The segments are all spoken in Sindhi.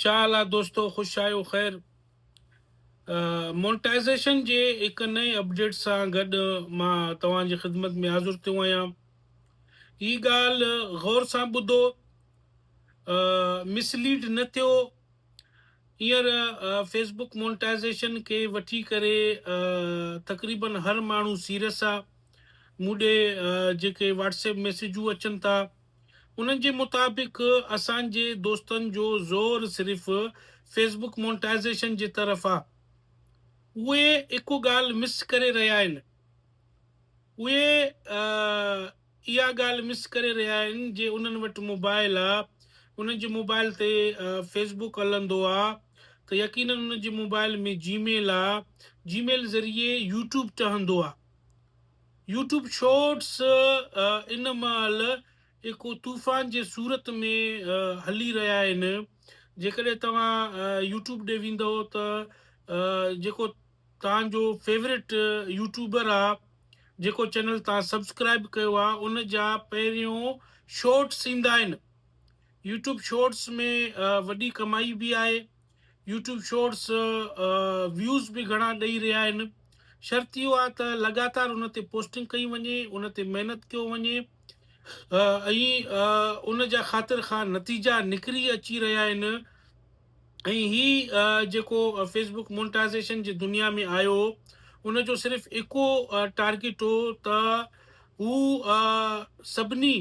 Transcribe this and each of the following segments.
ڇا حال آ دوستو خوش آهيو خير مونٽائزيشن جي هڪ نئين اپڊيٽ سان گڏ مان توهان جي خدمت ۾ حاضر ٿيو آهيان هي ڳالهه غور سان ٻڌو مس ليڊ نه ٿيو هينئر فيس بوڪ مونٽائزيشن کي وٺي ڪري تقريبا هر ماڻهو سيريس آ مون ڏي جيڪي واٽس ايپ ميسيجون اچن ٿا انهن جي مطابق اسان جي دوستن جو زور صرف فيس بڪ مونٽائزيشن جي طرف آ اهي اڪو ڳالهه مس ڪري رهيا آهن اهي اها ڳالهه مس ڪري رهيا آهن جي انهن وٽ موبائل آ انهن جي موبائل تي فيس بڪ هلندو آ ته يقينن انهن جي موبائل ۾ جي ميل آ جي ميل ذريعي يوٽيوب ٽهندو آ يوٽيوب شارٽس ان مهل ايڪو طوفان جي صورت ۾ هلي رهيا آهن جيڪڏهن توهان يوٽيوب ڏي ويندو ته جيڪو توهان جو فيوريٽ يوٽيوبر آ جيڪو چينل توهان سبسڪرائب ڪيو آ ان جا پهريون شارٽس ايندا آهن يوٽيوب شارٽس ۾ وڏي ڪمائي به آهي يوٽيوب شورٽس ويوز به گهڻا ڏئي رهيا آهن شرط اهو آهي ته لڳاتار ان تي پوسٽنگ ڪئي وڃي ان تي محنت ڪيو وڃي ۽ ان جا خاطر خواهه نتيجا نڪري اچي رهيا آهن ۽ هي جيڪو فيسبوڪ مونٽائزيشن جي دنيا ۾ آيو ان جو صرف اڪو ٽارگيٽ هو ته هو سڀني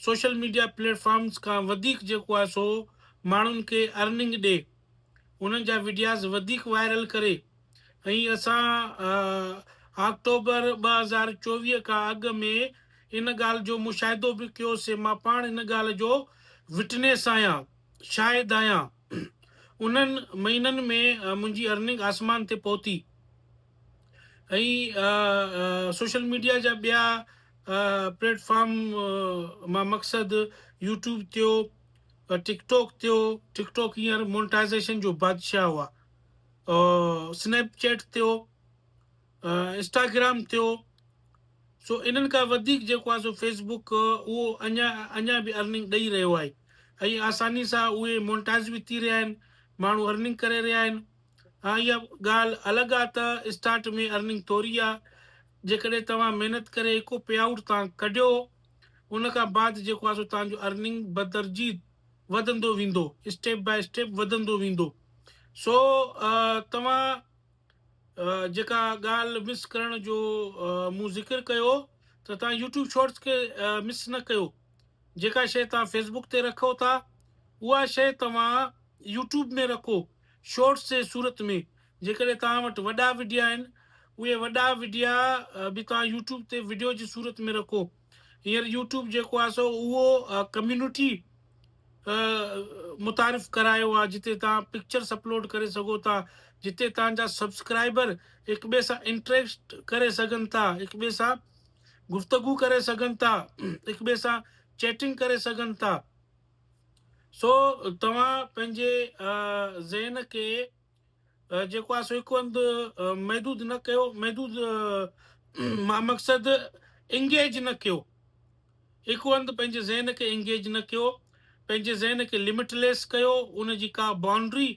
سوشل ميڊيا پليٽ فارمز کان وڌيڪ جيڪو آهي سو ماڻهن کي ارننگ ڏي انهن جا وڊياز وڌيڪ وائرل ڪري ۽ اسان آڪٽوبر ٻه هزار چوويهه کان اڳ ۾ ان ڳالهه جو مشاهدو به ڪيو سي مان پاڻ ان ڳالهه جو وٽنيس آهيان شاهد آهيان انهن مهينن ۾ منهنجي ارننگ آسمان تي پهتي ۽ سوشل ميڊيا جا ٻيا پليٽ فارم مان مقصد يوٽيوب تيو ٽڪ ٽوڪ تيو ٽڪ ٽوڪ ھينئر مونٽائزيشن جو بادشاھ ھئا سنيپ چيٽ تيو انسٽاگرام تيو سو انھن کان وڌيڪ جيڪو آھي سو فيس بوڪ اھو اڃا اڃا به ارننگ ڏئي رھيو آھي ۽ آساني سان اھي مونٽائز به ٿي رھيا آھن ماڻھو ارننگ ڪري رھيا آھن ھا اھا ڳالھ الڳ آھي ته اسٽارٽ ۾ ارننگ ٿوري آھي جيڪڏهن توهان محنت ڪري هڪ پي آئوٽ تان ڪڍيو ان کان بعد جيڪو آهي سو توهان جو ارننگ بدرجي وڌندو ويندو اسٽيپ باء اسٽيپ وڌندو ويندو سو توهان جيڪا ڳالهه مس ڪرڻ جو مون ذڪر ڪيو ته توهان يوٽيوب شارٽس کي مس نه ڪيو جيڪا شيء توهان فيسبوڪ تي رکو ٿا اها شيء توهان يوٽيوب ۾ رکو شارٽس جي صورت ۾ جيڪڏهن توهان وٽ وڏا وڊيا آهن اهي وڏا وڊيا به توهان يوٽيوب تي وڊيو جي صورت ۾ رکو هينئر يوٽيوب جيڪو آهي سو اهو ڪميونٽي متعارف ڪرايو آهي جتي توهان پڪچرس اپلوڊ ڪري سگهو ٿا جتي توهان جا سبسڪرائبر هڪ ٻئي سان انٽريڪسٽ ڪري سگهن ٿا هڪ ٻئي سان گفتگو ڪري سگهن ٿا هڪ ٻئي سان چيٽنگ ڪري سگهن ٿا سو توهان پنهنجي ذهن کي جيڪو آهي سو هڪ هنڌ محدود نه ڪيو، محدود مان مقصد انگيج نه ڪيو، هڪ هنڌ پنهنجي ذهن کي انگيج نه ڪيو، پنهنجي ذهن کي لمٽ ليس ڪيو، ان جي ڪا بائونڊري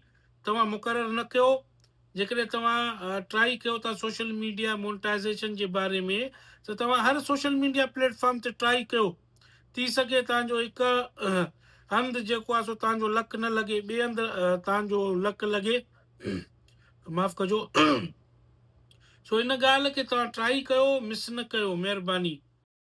توهان مقرر نه ڪيو، جيڪڏهن توهان ٽرائي ڪيو ٿا سوشل ميڊيا مونٽائيزيشن جي باري ۾ ته توهان هر سوشل ميڊيا پليٽ فارم تي ٽرائي ڪيو، ٿي سگهي توهان جو هڪ هنڌ جيڪو آهي سو توهان جو لڪ نه لڳي ٻئي هنڌ توهان جو لڪ لڳي معاف ڪجو سو ان ڳالهه کي توهان ٽرائي ڪيو مس نه ڪيو مهرباني